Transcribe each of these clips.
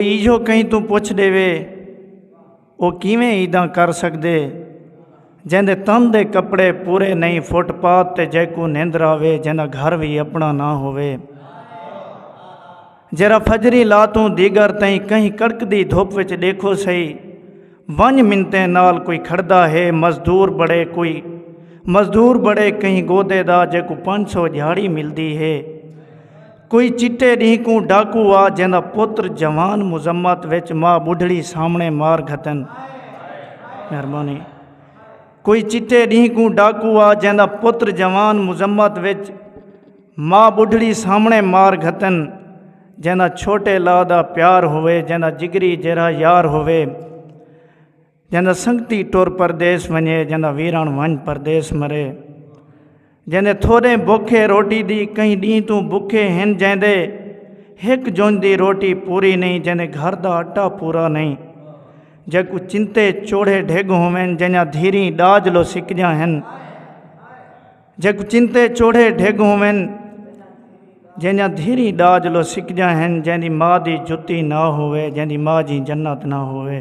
ایجھو کہیں توں پچھ ڈیوے او کیویں ایداں کر سکدے جیندے تن دے کپڑے پورے نہیں فٹ پاتھ تے جیکو نیندر آوے جیندہ گھر وی اپنا نہ ہوئے جیرا فجری لاتوں دیگر تئیں کہیں کڑک دی دھوپ وچ دیکھو سہی ونج منتیں نال کوئی کھڑدا ہے مزدور بڑے کوئی مزدور بڑے کہیں گودے دا جے کو پانچ سو جھاڑی ملدی ہے کوئی چٹے ڈینہہ کوں ڈاکو آ جیندا پتر جوان مذمت وچ ماء بڈھڑی سامنے مار گھتن مہربانی کوئی چٹے ڈینہہ کوں ڈاکو آ جیندا پتر جوان مذمت وچ ماں بڈھڑی سامنے مار گھتن جیندا چھوٹے لا دا پیار ہوئے جیندا جگری جیرا یار ہوئے جیندا سنگتی ٹر پردیس ونجے جیندا ویران ونج پردیس مرے جیندے تھوڑے بکھے روٹی دی کئی ڈی تو بکھے ہن جیندے ہک جونج دی روٹی پوری نہیں جیندے گھر دا آٹا پورا نہیں جے کو چنتے چوڑے ڈھگ ہووین جنیا دھیری ڈاج لو سکجا ہن جگ چنتے چوڑھے ڈھگ ہوون جنجا دھیری ڈاج لو سکجا ہن جن دی ماں دی جتی نہ ہوئے جن دی ماں جی جنت نہ ہوئے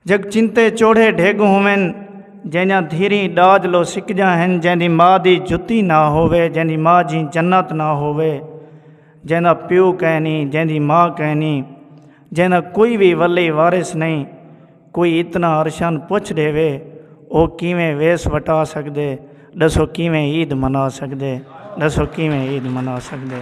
جگ چنتے چوڑھے ڈھگ ہوون جنجا دھیری ڈاج لو سکجا ہن جن دی ماں دی جتی نہ ہوئے جن دی ماں جی جنت نہ ہوئے جن دا پیو کہنی جن دی ماں کہنی جن دا کوئی بھی ولی وارث نہیں کوئی اتنا ارشان پچھ ڈیوے او کیویں ویس وٹا سکدے ڈسو کیویں عید منا سکدے ڈسو کیویں عید منا سکدے۔